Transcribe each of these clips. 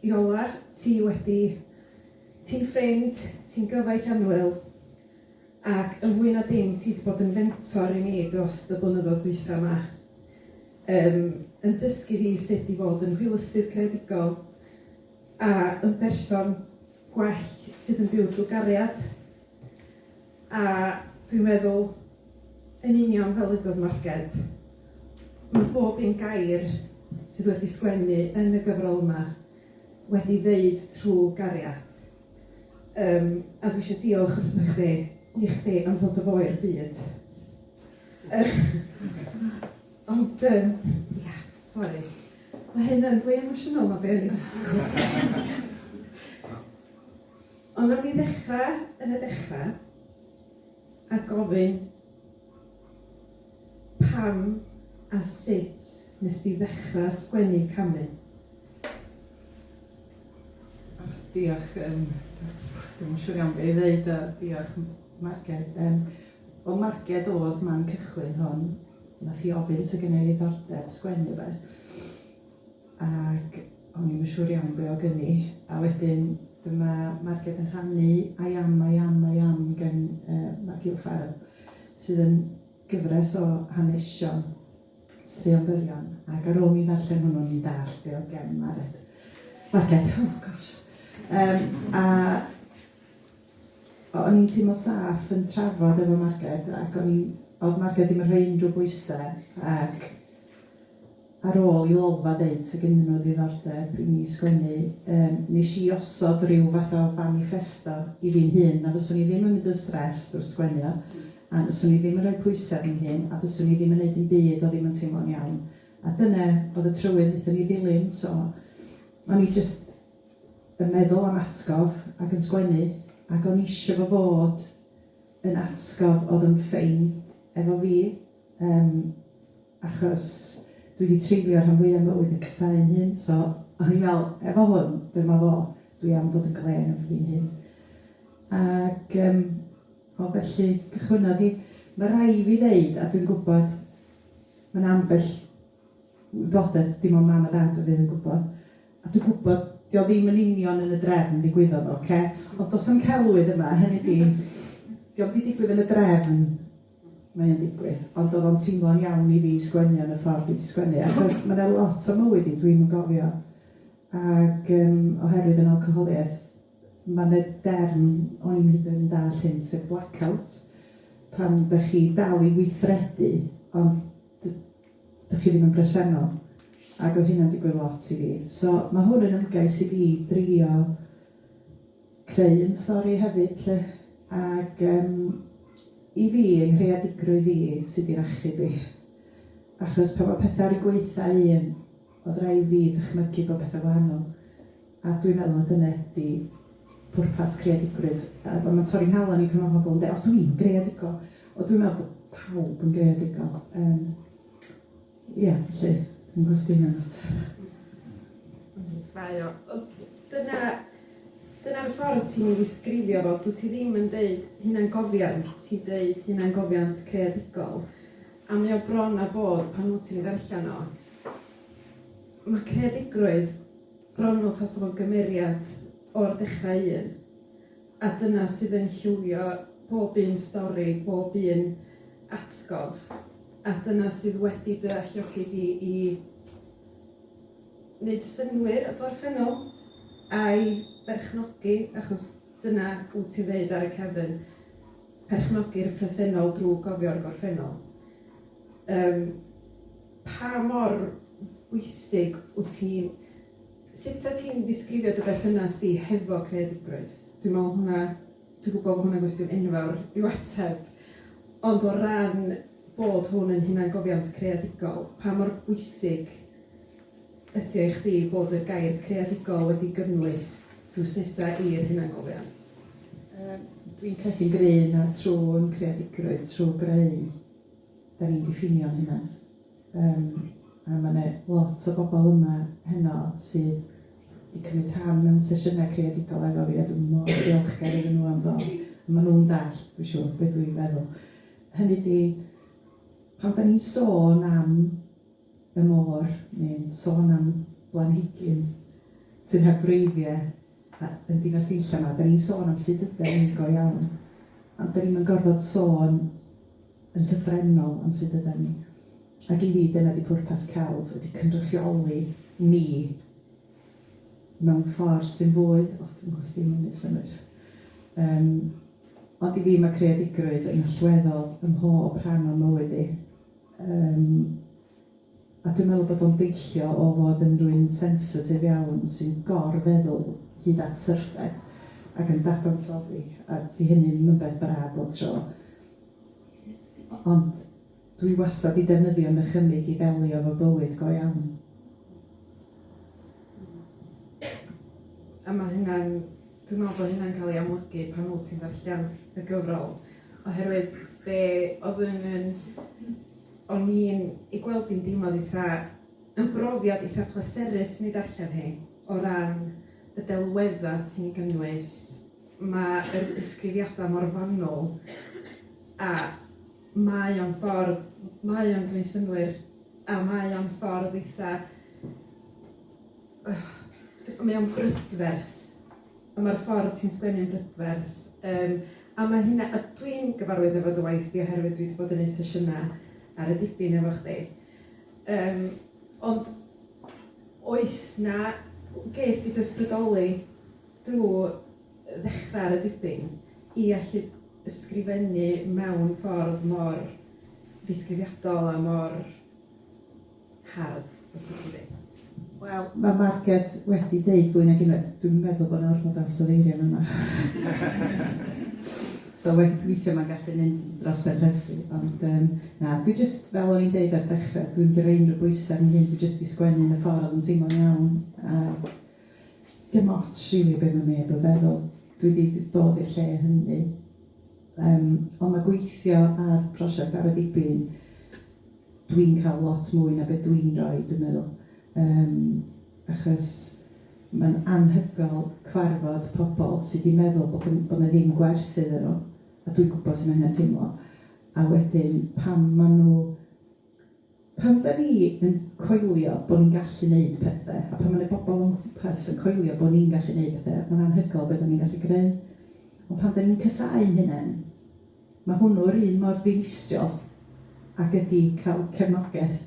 Iola, ti wedi. Ti'n ffrind, ti'n gyfaill annwyl, ac yn fwy na dim ti 'di bod yn fentor i mi drost y blynyddoedd dwytha 'ma. Yym yn dysgu fi sut i fod yn hwylusydd creadigol a yn berson gwell sydd yn byw drw gariad. A dwi'n meddwl yn union fel wedodd Marged ma' bob un gair sydd wedi sgwennu yn y gyfrol yma wedi ddeud trw' gariad yym a dwi isio diolch wrtha chdi i chdi am fod y fo i'r byd ond yym ia sori ma' hyn yn fwy emosiynol na be o'n i'n disgwl. Ond wnawn ni ddechrau yn y dechrau a gofyn pam a sut nes di ddechrau sgwennu camu? O, diolch, yym dwi'm yn siŵr iawn be' i ddeud a diolch Marged. Yym wel Marged oedd man cychwyn hwn, nath hi ofyn 'sa gynna i ddiddordeb sgwennu 'fyd. ac o'n i'm yn siŵr iawn be o gyn i, a wedyn dyma Marged yn rhannu I am, I am, I am gan uh, Maggie O'Farrell, sydd yn gyfres o hanesion straeon byrion, ac ar ôl mi ddarllen hwnnw, ni dall be o gen Mared. Marged, oh gosh. Um, a o'n i'n teimlo saff yn trafod efo Marged, ac o'n i'n, oedd Marged ddim yn rhoi unrhyw bwysau, ac Ar ôl i Lolfa ddeud sa gennyn nhw ddiddordeb i mi sgwennu, yym, nes i osod ryw fath o faniffesto i fi'n hun, na fyswn i ddim yn mynd yn stressed wrth sgwennu o, a fyswn i ddim yn rhoi pwysau ar fy hun, a fyswn i ddim yn neud dim byd o ddim yn teimlo'n iawn. A dyne oedd y trywydd nethon ni ddilyn, so o'n i jyst yn meddwl am atgof ac yn sgwennu, ac o'n i isio fo fod yn atgof oedd yn ffeind efo fi, yym. achos dwi 'di treulio rhan fwya mywyd yn casáu'n hun so o'n i'n me'wl efo hwn dyma fo dwi am fod yn glên efo fi'n hun ag yym o felly cychwynnodd hi ma' rai' fi ddeud a dwi'n gwbod ma' 'na ambell wybodeth dim ond mam a dad o fydd yn gwbod a dwi gwbod 'di o ddim yn union yn y drefn ddigwyddodd o ocê ond do's 'na'm celwydd yma hynny 'di 'di o'm 'di digwydd yn y drefn mae o'n digwydd, ond o'dd o'n teimlo'n iawn i fi sgwennu yn y ffordd dwi 'di sgwennu achos ma' 'na lot o mywyd i dwi'm yn gofio ag yrm oherwydd yn alcoholiaeth ma' 'na derm o'n i'm hyd yn oed yn dalld hyn sef black out pan 'dach chi dal i weithredu ond d- 'dach chi ddim yn bresennol ag o'dd hynna'n digwydd lot i fi so ma' hwn yn ymgais i fi drio creu un stori hefyd 'lly ag yym i fi yng nghreadigrwydd i sy 'di'r achub i achos pan ma' petha ar 'u gwaetha un o'dd raid fi ddychmygu bo' petha wahanol a dwi'n meddwl ma' dyne 'di pwrpas creadigrwydd a ma' ma'n torri 'nghalon i pan ma' pobol yn deu' o dwi'n greadigol o dwi'n me'wl bo' pawb yn greadigol yym Ia, felly, yn gwestiynau mater. Mae o. Dyna, dyna'r ffordd ti'n ei ddisgrifio fo. Dwyt ti ddim yn deud hunangofiant, ti'n deud hunangofiant creadigol. A mae o bron a bod, pan wyt ti'n ei ddarllen o, mae creadigrwydd bron fel tasa fo'n gymeriad o'r dechrau un. A dyna sydd yn llywio pob un stori, pob un atgof. A dyna sydd wedi dy alluogi di i wneud synnwyr o gorffennol, a'i berchnogi, achos dyna wyt ti'n ddeud ar y cefn, perchnogi'r presennol drwy gofio'r gorffennol. Um, pa mor bwysig wyt ti'n Sut sa ti'n disgrifio dy berthynas di hefo creadigrwydd? Dwi'n me'wl hwnna dwi gwbo bo' hwnna'n gwestiwn enfawr i'w ateb ond o ran bod hwn yn hunangofiant creadigol pa mor bwysig ydi o i chdi bod y gair creadigol wedi gynnwys drws nesa i'r hunangofiant? Yym dwi'n credu'n gry' na trw'n creadigrwydd, trw' greu 'dan ni'n diffinio'n hunan. Yym a ma' 'ne lot o bobl yma heno sydd 'di cymryd rhan mewn sesiynau creadigol efo fi a dwi mor ddiolchgar iddyn nhw am ddod. Ma' nhw'n dallt, dwi siŵr, be' dwi'n feddwl. Hynny ydi, pan 'dan ni'n sôn am y môr neu'n sôn am blanhigyn sydd heb wreiddie a- yn Dinas Dinlla 'ma, 'dan ni'n sôn am sut ydan ni go iawn, ond 'dan ni'm yn gorfod sôn yn llythrennol am sut ydan ni. Ac i fi dyna 'di pwrpas celf ydi cynrychioli ni mewn ffordd sy'n fwy o dwi'm gwybod os 'di hynna'n neud synnwyr yym ond i fi ma' creadigrwydd yn allweddol ym mhob rhan o'n mywyd i yym A dwi'n meddwl bod o'n deillio o fod yn rywun sensitif iawn sy'n gor-feddwl hyd at syrthe ac yn dadansoddi, a 'di hynny ddim yn beth braf bob tro. Ond dwi wastad 'di defnyddio nychymyg i ddelio efo bywyd go iawn. A ma' hynna'n... Dwi'n meddwl bod hynna'n cael ei amlygu pan wyt ti'n darllen y gyfrol oherwydd be' o'dd yn yn O'n i'n ei gweld hi'n deimlad eitha'... Yn brofiad eitha' pleserus i mi ddarllen hi, o ran y delweddau ti'n ei gynnwys. Mae yr disgrifiadau mor fanwl, a mae o'n ffordd... mae o'n gwneud synnwyr, a mae o'n ffordd eitha'... Mae o'n brydferth. a ma'r ffordd ti'n sgwennu'n brydferth yym a ma' hynna... A dwi'n gyfarwydd efo dy waith di oherwydd dwi 'di bod yn neud sesiyna ar y dipyn efo chdi yym ond oes 'na... Ges i fy ysbrydoli drw ddechra ar y dipyn i allu ysgrifennu mewn ffordd mor ddisgrifiadol a mor hardd, os liciwch chi. Wel, mae Marged wedi deud fwy nag unwaith, dwi'n meddwl bod 'na ormod o ansoddeiriau yn yma. so we- weithiau mae'n gallu mynd dros ben llestri, ond um, na, dwi jyst, fel o'n i'n deud ar dechrau, dwi'n mynd i roi unrhyw bwysau yn hyn, dwi jyst i sgwennu yn y ffordd oedd yn teimlo'n iawn, a dim ots rili be mae neb yn feddwl, dwi wedi dod i'r lle hynny. Um, ond mae gweithio ar prosiect ar y dibyn, Dwi'n cael lot mwy na be' dwi'n roi dwi'n meddwl yym achos ma'n anhygoel cwarfod pobl sy 'di meddwl bod gyn- bod 'na ddim gwerth iddyn nhw a dwi'n gwbod su' ma' hynna'n teimlo a wedyn pan ma' nhw pan 'dan ni yn coelio bo' ni'n gallu neud pethe a pan ma' 'na bobl o'n nghwmpas yn coelio bo' ni'n gallu neud pethe ma'n anhygoel be' 'dan ni'n gallu greu ond pan 'dan ni'n casau ein hunen Mae hwnnw yr un mor ddinistriol ag ydi cael cefnogaeth.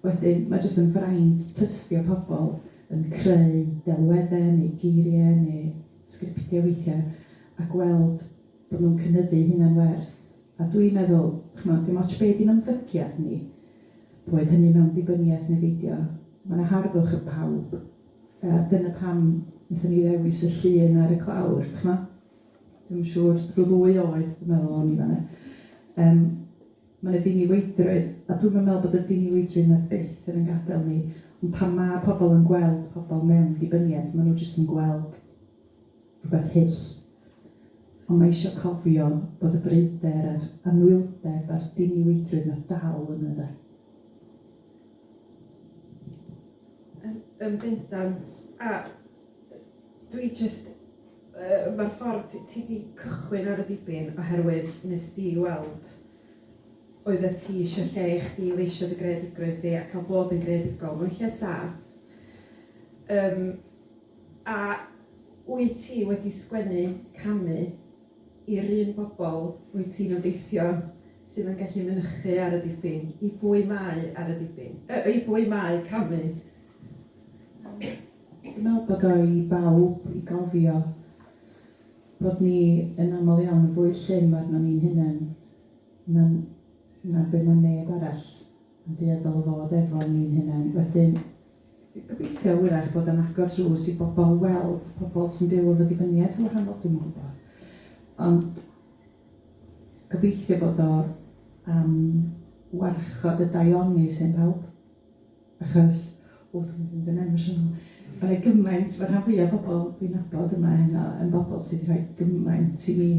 Wedyn, mae jyst yn fraint tystio pobl yn creu delweddau neu geiriau neu sgriptiau weithiau a gweld bod nhw'n cynyddu hunan werth a dwi'n meddwl, ch'mod, dim ots be' 'di'n ymddygiad ni, boed hynny mewn dibyniaeth neu beidio, ma' 'na harddwch yn pawb a dyna pam nethon ni ddewis y llun ar y clawr, d'ch'mo'? Dwi'm yn siŵr, rhyw ddwy oed dwi'n meddwl o'n i fan 'na. Yym ma' 'na ddiniweidrwydd a dwi'm yn meddwl bod y diniweidrwydd 'na byth yn 'yn gadel ni ond pan ma' pobl yn gweld pobl mewn dibyniaeth ma' nhw jyst yn gweld rhywbeth hyll ond ma' isio cofio bod y breuder a'r anwyldeb a'r diniweidrwydd 'na dal yna de. Yn yn bendant a Dwi jyst yy ma'r ffordd ti ti 'di cychwyn ar y dibyn oherwydd nes di weld oeddet ti isio lle i chdi i leisio dy greadigrwydd di a ca'l bod yn greadigol mewn lle sâff yym a wyt ti wedi sgwennu camu i'r un bobol wyt ti'n obeithio sydd yn gallu mynychu ar y dibyn i bwy mae ar y dibyn yy i bwy mae camu? Dwi'n meddwl bod o i bawb i gofio bod ni yn aml iawn yn fwy llym arnon ni'n hunen na na be' ma' neb arall yn dueddol o fod efo ni'n hunen wedyn dwi'n gobeithio 'w'rach bod o'n agor drws i bobol weld pobol sy'n byw efo dibyniaeth yn wahanol dwi'm yn gw'bod ond gobeithio bod o am warchod y daioni sy' yn pawb. Achos, o dwi'n mynd i fynd yn emosiynol, ma' 'na gymaint, ma' rhan fwya pobol dwi'n nabod yma heno yn bobol sy 'di rhoi gymaint i mi,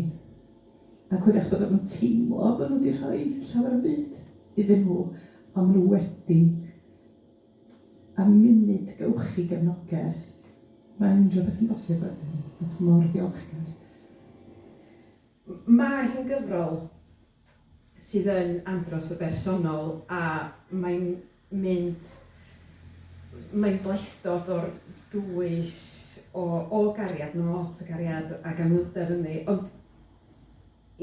ac 'w'rach bod o'm yn teimlo bo' nw 'di rhoi llawer o'm byd iddyn nhw, on' ma' nw wedi, a munud gewch chi gefnogeth, ma' unryw beth yn bosib wedyn, a dwi mor ddiolchgar. M- mae hi'n gyfrol sydd yn andros o bersonol a mae'n mynd... mae'n bleisdod o'r dwys o o gariad, ma' 'na lot o gariad ac anhwylder ynddi ond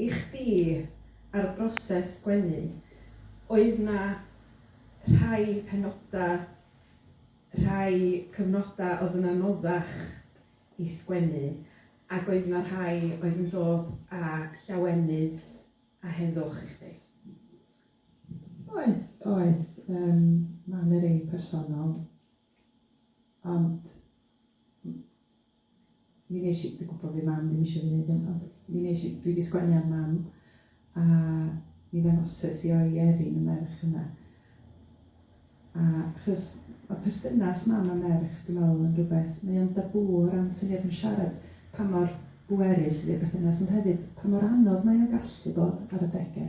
i chdi a'r broses sgwennu oedd 'na rhai penoda', rhai cyfnoda' o'dd yn anoddach i sgwennu Ac oedd 'na rhai oedd yn dod â llawenydd a heddwch i chdi? Oedd, oedd. Yym ma' 'na rei personol ond m- mi nesh i... Dwi gwbo by' mam ddim isio fi neud hyn ond mi nesh i... Dwi 'di sgwennu ar mam A mi ddangoses i o i Erin y merch yna. A achos ma' perthynas mam a merch dwi me'wl yn rwbeth mae o'n dabŵ o ran syniad yn siarad pa mor bwerus ydi'r perthynas ond hefyd pa mor anodd mae o'n gallu bod ar adege.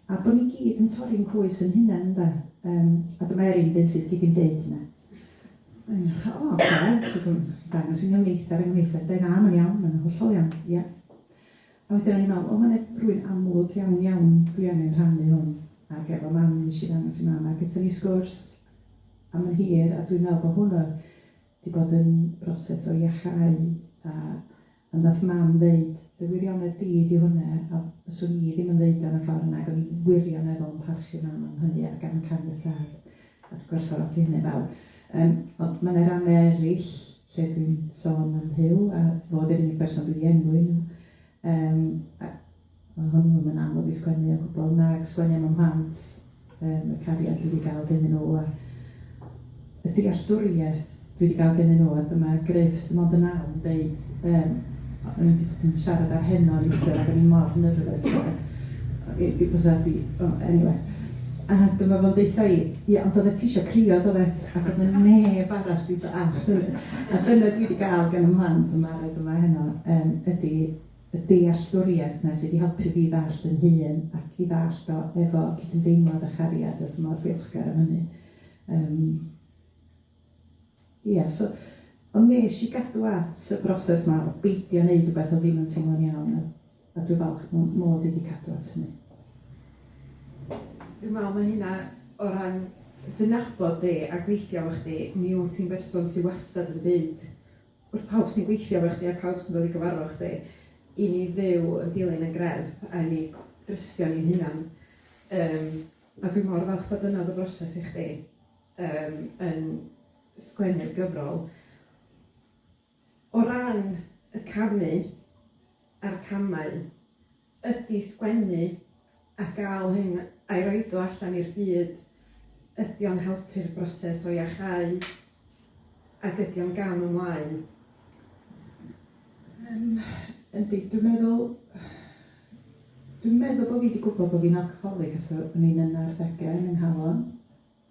A bo' ni gyd yn torri'n coes 'yn hunen ynde? Yrm a dyma Erin dyn sydd gyd yn deud hynna. O oce so dwi yn dangos i ni am neithdar a ngwneuthur. Dau fam yn iawn ma' nhw'n hollol iawn. Ia. A wedyn o'n i'n meddwl, o, mae yna rhywun amlwg iawn, iawn, dwi angen rhannu hwn ag efo mam, wnes i ddangos i mam, a gaethon ni sgwrs am yn hir, a dwi'n meddwl bod hwn oedd 'di bod yn broses o iacháu, a a wnaeth mam ddeud, dy wirionedd di ydy hwnna, a fyswn i ddim yn ddeud o yn y ffordd yna, ac o'n i'n wirioneddol yn parchu mam am hynny ac am caniatâd, a dwi'n gwerthfawrogi hynny'n fawr. Yym, ond mae yna rannau eraill, lle dwi'n sôn am Huw a fo 'di'r unig berson dwi 'di enwi nhw yrm a ma' hwnnw ddim yn anodd i sgwennu o gwbwl nag sgwennu am 'y mhlant yrm y cariad dwi 'di ga'l gennyn nhw a y dealltwriaeth dwi 'di ga'l gennyn nhw a dyma Gruff sy mond yn naw yn deud yrm O'n i'n dipyn siarad ar heno neithiwr ac o'n i mor nervous ac i di fatha di o anyway. A dyma fo'n deutha i, ie ond oeddet ti isio crio doeddet ac oedd na neb arall wedi dallt hynny. A dyna dwi wedi gael gan y mhlant yn barod yma heno yym ydi y dealltwriaeth yna sydd wedi helpu fi i ddallt fy hun ac i ddallt o efo cydymdeimlad a chariad a dwi mor ddiolchgar am hynny. Yym. Ia, so, ond nes i gadw at y broses 'ma o beidio neud wbath o'dd ddim yn teimlo'n iawn a a dwi falch mo- mod i 'di cadw at hynny. Dwi me'wl ma' hynna o ran dy nabod di a gweithio efo chdi mi wt ti'n berson sy wastad yn deud wrth pawb sy'n gweithio efo chdi a pawb sy'n dod i gyfarfo chdi i ni fyw yn dilyn y greddf a i ni cw- drystio ni'n hunan yym a dwi mor falch fod dyna o'dd y broses i chdi. yym yn sgwennu'r gyfrol. O ran y camu a'r camau, ydi sgwennu a ga'l hyn a'i roid o allan i'r byd, ydi o'n helpu'r broses o iacháu ac ydi o'n gam ymlaen? Yym yndi dwi'n meddwl dwi'n meddwl bo' fi 'di gwbod bo' fi'n alcoholic ers o- o'n i'n yn arddege yn 'y nghalon.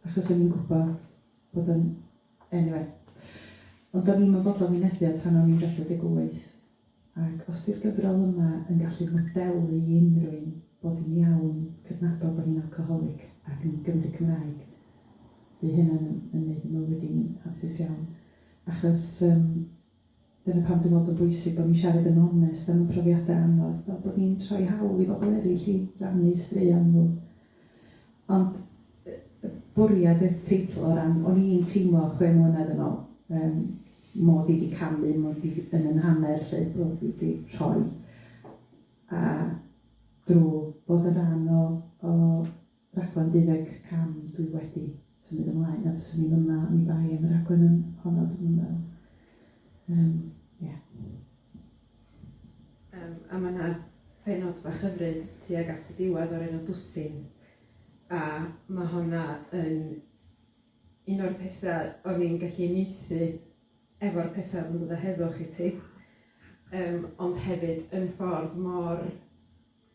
Achos o'n i'n gwybod bod o'n... Eniwe. Ond o'n i'm yn fodlon wynebu o tan o'n i'n 48. Ac os 'di'r gyfrol yma yn gallu modelu i unrhywun bod hi'n iawn cydnabod bod ni'n alcoholic ac yn Gymry Cymraeg, fydd hynna'n yn yn neud fy mywyd i'n hapus iawn. Achos yym Dyna pam dwi'n meddwl bod o'n bwysig bod ni'n siarad yn onest am ein profiadau anodd, fel bod ni'n rhoi hawl i bobl eraill i rannu straeon nhw. Ond y y bwriad y teitl o ran... o'n i'n teimlo chwe mlynedd yn ôl yym 'mod i 'di camu, 'mod i yn 'y nhanner 'lly, bo' fi 'di rhoi, a drw fod yn rhan o o raglen deuddeg cam dwi wedi symud ymlaen a fyswn i'n yma oni bai am y rhaglen yn honno dwi'm yn meddwl. Yym ia. Yym a ma' 'na pennod bach hyfryd tuag at y diwedd o'r enw Dwsin a ma' honna yn un o'r petha' o'n i'n gallu uniaethu efo'r petha' o'dd yn dod o heddwch i ti yym ond hefyd yn ffordd mor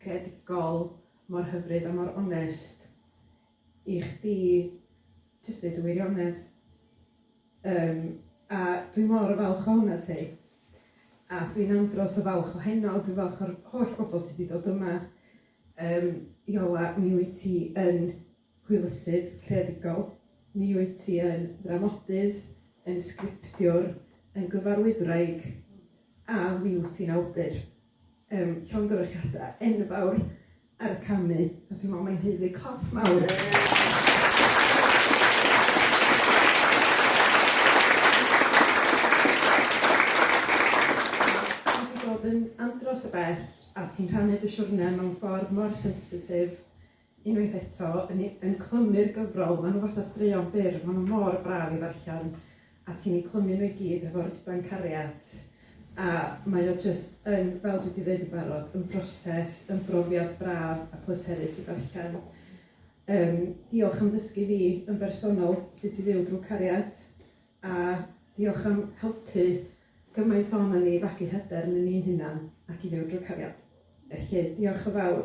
creadigol mor hyfryd a mor onest i chdi jyst deud y wirionedd. Yym a dwi mor falch ohonat ti a dwi'n andros o falch o heno, dwi'n falch o'r holl bobl sy 'di dod yma. Yym Iola, mi wyt ti yn hwylusydd creadigol, mi wyt ti yn ddramodydd, yn sgriptiwr, yn gyfarwyddwraig a mi wyt ti'n awdur. yym llongyfarchiada enfawr ar y camu a dwi me'wl mae'n haeddu clap mawr. Ti 'di bod yn andros o bell a ti'n rhannu dy siwrne mewn ffordd mor sensitif Unwaith eto, yn i- yn clymu'r gyfrol, ma' nhw fatha straeon byr, ma' nhw mor braf i ddarllen, a ti'n eu clymu nhw i gyd hefo rhuban cariad, a mae o jyst yn, fel dwi 'di ddeud yn barod, yn broses, yn brofiad braf a pleserus i ddarllen. Yym, diolch am ddysgu fi yn bersonol sut i fyw drwy cariad. A diolch am helpu gymaint ohonon ni i fagu hyder ynon ni'n hunan ac i fyw drwy cariad. Felly, diolch yn fawr.